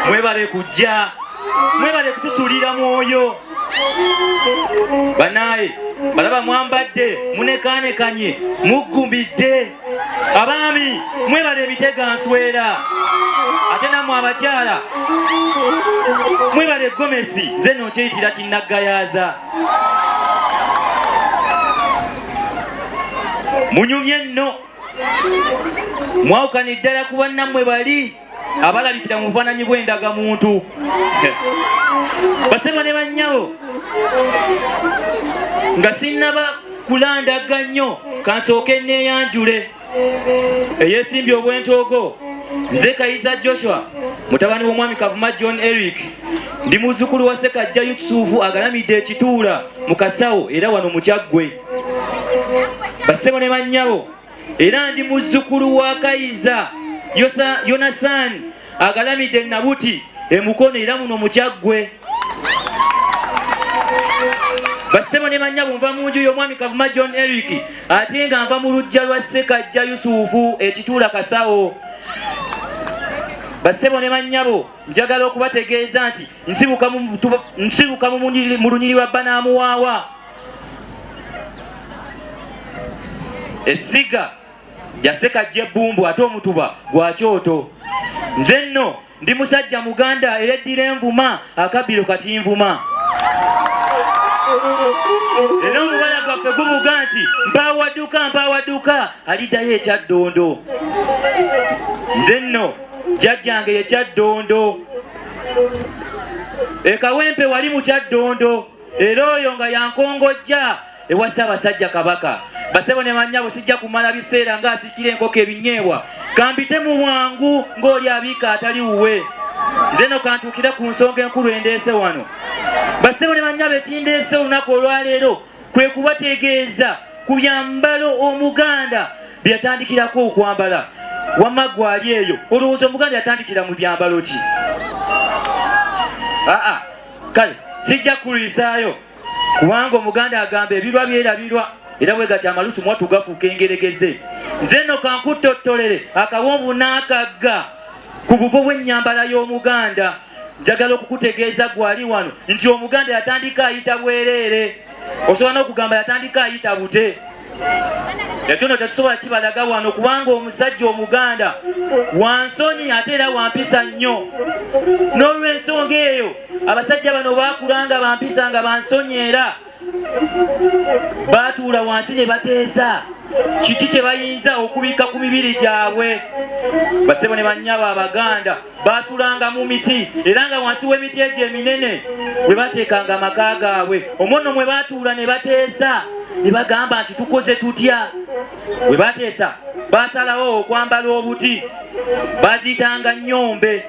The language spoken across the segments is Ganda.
mwebale kujja mwebale kutusulira mwoyo banaye balaba mwambadde munekanekanye muggumbidde abaami mwebale ebitega nswera ate namwe abakyala mwebale gomesi nze nokyeyitira kinnaggayaza munyumye nno mwawukani ddala ku bannammwe bali abalabikira mu bufaananyi bw'endagamuntu basebo ne bannyabo nga sinnaba kulandaga nnyo kansooke neeyanjule eyeesimbye obwentoogo nze kayiza joshua mutabani w'omwami kavuma john eric ndi muzzukulu wa sekajja yusufu agalamidde ekituula mu kasawo era wano mukyaggwe basebo ne bannyabo era ndi muzzukulu wa kayiza yonasaani agalamidde nabuti emukono era muno mukyaggwe basebo ne manya bunva mu nju y'omwami kavuma john eric ate nga nva mu lujja lwa sekajja yusufu ekituula kasawo basebo ne manyabo njagala okubategeeza nti nsibuka mu lunyiriri lwa banamuwaawa essiga jaseka jebumbu ate omutuba gwa kyoto nze nno ndi musajja muganda eyeddira envuma akabbiro kati nvuma era omubala gwaffe gubuga nti mpawaduka mpawaduka aliddayo ekyaddondo nze nno jajjange yekyaddondo ekawempe wali mukyaddondo era oyo nga yankongojja ewa Ssaabasajja Kabaka basebo ne banyabo sijja kumala biseera nga asikira enkoko ebinyeebwa kambite mu bwangu ng'oli abiika atali wuwe nze no kantuukira ku nsonga enkulu endeese wano basebo ne banyabo ekindeese olunaku olwaleero kwe kubategeeza ku byambalo omuganda bye yatandikirako okwambala wamma gwali eyo olowooza omuganda yatandikira mu byambalo ki aa kale sijja kulwisaayo kubanga omuganda agamba ebirwa byerabirwa era bwe gati amalusu mwattu gafuuka engeregeze nze nno kankuttottolere akawonvu n'akagga ku buvo bw'ennyambala y'omuganda njagala okukutegeeza gwali wano nti omuganda yatandika ayita bwereere osobola n'okugamba yatandika ayita bute ekyono tetusobola kibalaga wano kubanga omusajja omuganda wansoni ate era wampisa nnyo n'olwensonga eyo abasajja bano bakula nga bampisa nga bansoni era baatuula wansi ne bateesa kiki kye bayinza okubikka ku mibiri gyabwe basebo ne bannyabo abaganda baasulanga mu miti era nga wansi w'emiti egyo eminene bwe bateekanga amaka gaabwe omwono mwe baatuula ne bateesa ne bagamba nti tukoze tutya bwe bateesa baasalawo okwambala obuti baziyitanga nyombe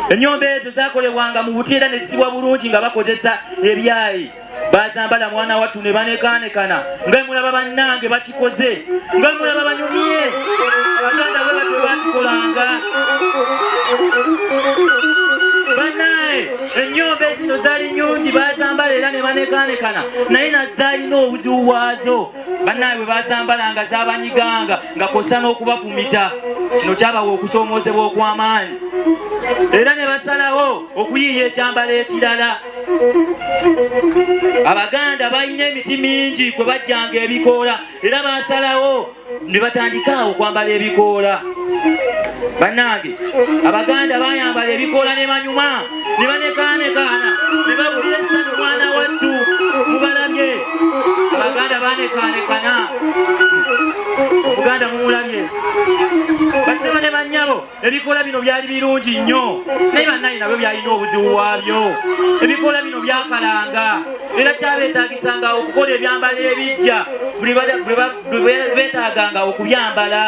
enyombe ezo zakolebwanga mu buti era ne zisibwa bulungi nga bakozesa ebyayi bazambala mwana wattu ne banekaanekana nga mulaba bannange bakikoze nga mulaba banyumye abaganda bwe batyo bakikolanga banaye ennyumba ezino zali nyungi bazambala era ne banekaanekana naye nazalina obuzibu bwazo banaye bwe bazambalanga zabanyiganga nga kosa n'okubafumita kino kyabawa okusoomoozebwa okw'amaanyi era ne basalawo okuyiiya ekyambalo ekirala abaganda balina emiti mingi kwe bajjanga ebikoola era basalawo ne batandika okwambala ebikoola bannange abaganda bayambala ebikoola ne banyuma ne banekaanekaana ne babulira essanyu mwana wattu mubalabye abaganda banekaanekana omuganda mumulabye basebo ne bannyabo ebikoola bino byali birungi nnyo naye bannaye nabyo byalina obuzibu bwabyo ebikoola bino byakalanga era kyabetaagisanga okukola ebyambalo ebijja bwebetaaganga okubyambala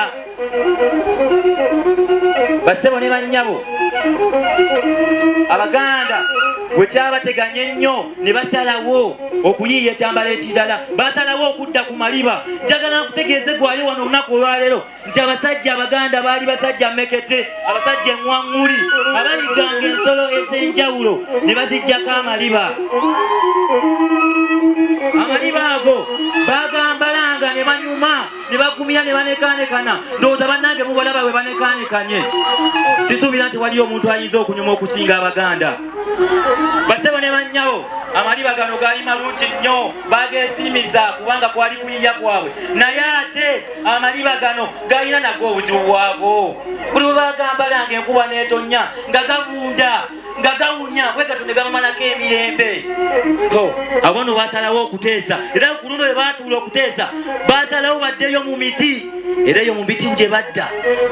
bassebo ne bannyabo abaganda bwe kyabateganya ennyo ne basalawo okuyiiya ekyambalo ekirala basalawo okudda ku maliba njagala nkutegeeze gwayo wano olunaku olwaleero nti abasajja abaganda baali basajja mekete abasajja eŋwaŋŋuli abayiganga ensolo ez'enjawulo ne bazijjako amaliba amaliba ago bagambalanga ne banyuma ne bagumira ne banekanekana ndowooza bannange mubalaba bwe banekanekanye sisuubira nti waliyo omuntu ayinza okunyuma okusinga abaganda basebo ne bannyawo amaliba gano gaali malungi nnyo bageesiimiza kubanga kwali kuyiya kwabwe naye ate amaliba gano galina nago obuzibu bwago buli bwe bagambala nga enkuba n'etonya nga gabunda nga gawunya bwe gato ne gamumalako emirembe abono basalawo okuteesa era ku luno bwe batuula okuteesa basalawo baddeyo mu miti era eyo mu miti gye badda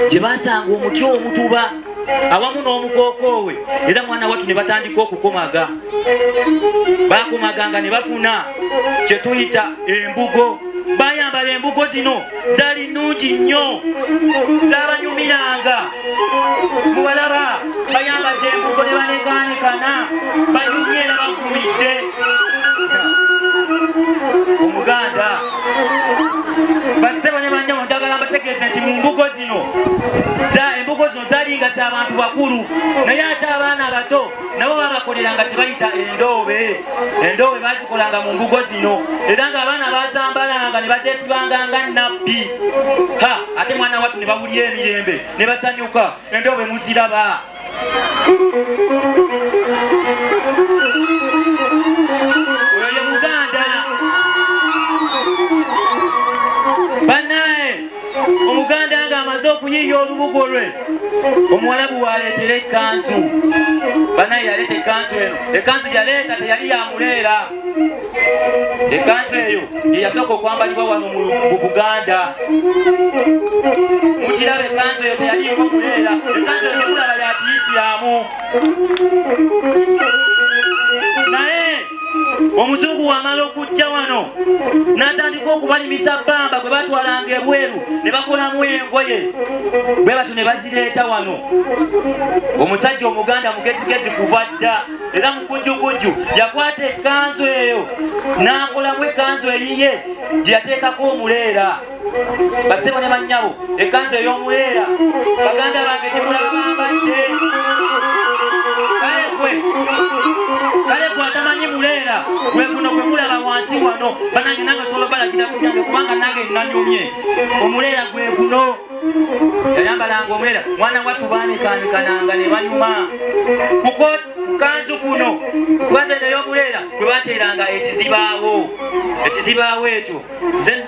gye basanga omuti omutuba awamu n'omukookoowe era mwana wattu ne batandika okukomaga bakomaganga ne bafuna kye tuyita embugo bayambala embugo zino zali nungi nnyo zabanyumiranga mubalaba bayambadde embugo ne banekaanikana banyumye era bagumidde omuganda basebo ne banjabo njagala mbategeeze nti mu mbugo zino embugo zino zalinga za bantu bakulu naye ate abaana abato nabo babakoleranga tebayita endoobe endoobe bazikolanga mu mbugo zino era nga abaana bazambalanga ne bazesibanga nga nabbi ha ate mwana watu ne bawulya emirembe ne basanyuka endoobe muziraba omuganda nga amaze okuyiiya olubugo lwe omuwalabu waleetera ekkanzu banaye yaleeta ekkanzu eno ekkanzu yaleeta teyali yamuleera ekkanzu eyo yeyasooka okwambalibwa wano mu buganda mukiraba ekkanzu eyo teyali yomuleera ekkanzu eyo tekulaba yakiyisiramu omuzungu wamala okujja wano n'atandika okubalimisa bbamba gwe batwalanga ebweru ne bakolamu engoye bwe batyo ne bazireeta wano omusajja omuganda mugezigezi kuva dda era mukujjukujju yakwata ekkanzu eyo n'akolamu ekkanzu eyiye gye yateekako omuleera basebo ne bannyabo ekkanzu ey'omuleera baganda bange gyemulabambadde kale gwe kale gwe atamanyi muleera gwe guno gwe mulaba wansi wano banange nange osobola balagira kujange kubanga nange nanyumye omuleera gwe guno yayambalanga omuleera mwana wattu baanekanekananga ne banyuma kuko kukanzu kuno kukanzu eno ey'omuleera gwe bateeranga ekizibaawo ekizibaawo ekyo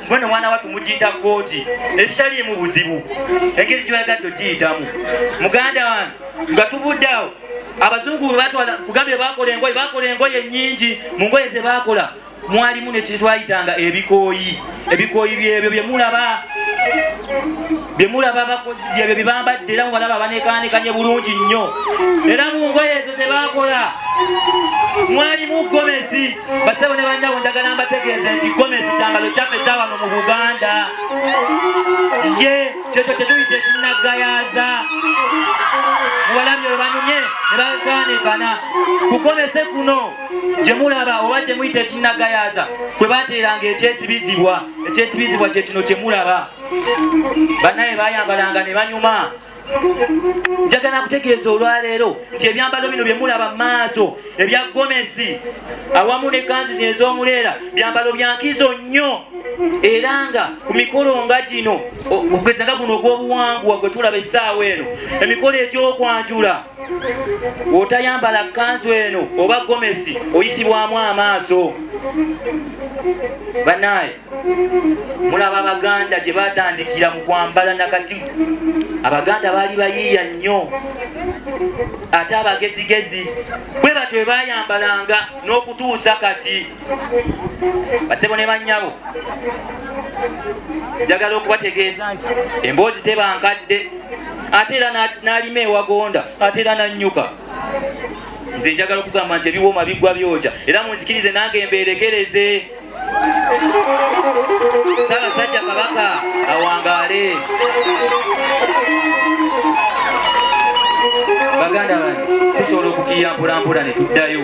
gwe ne mwana wattu mugiyita kkooti ekitaliimu buzibu engeri gyoyagadde ogiyitamu muganda wange nga tuvudde awo abazungu webatwala kugambye bakola engoye bakola engoye nyingi mu ngoye zebakola mwalimu nekintu twayitanga ebikooyi ebikooyi byebyo byemulaba bye mulaba abakozi byebyo bye bambadde era mubalaba abanekaanekanye bulungi nnyo era mu ngoye ezo ze baakola mwalimu gomesi basebo ne banjawo njagala mbategeeze nti gomesi kyambalo kyaffe kyawano mu buganda ye kyekyo kyetuyita ekinnaggayaza mubalabye olwanyumye ne bakaanekana ku gomese kuno gye mulaba oba gye muyita ekinnaggayaza kwe bateeranga ekyesibizibwa ekyesibizibwa kyekino kye mulaba banaye bayambalanga ne banyuma njagala kutegeeza olwaleero nti ebyambalo bino byemulaba maaso ebya gomesi awamu ne kanzu zino ez'omuleera byambalo byankizo nnyo era nga ku mikolo nga gino okugeza nga guno ogw'obuwangwa gwe tulaba essaawa eno emikolo egy'okwanjula otayambala kanzu eno oba gomesi oyisibwamu amaaso banaye mulaba abaganda gye batandikira mu kwambala nakati abaganda baali bayiiya nnyo ate abagezigezi bwe batyo bwe bayambalanga n'okutuusa kati basebo ne bannyabo njagala okubategeeza nti emboozi tebankadde ate era n'alima ewagonda ate era nannyuka nze njagala okugamba nti ebiwooma bigwa byoja era munzikirize nange mbeerekereze Ssaabasajja Kabaka awangaale. Baganda bange tusobola okukiya mpolampola ne tuddayo.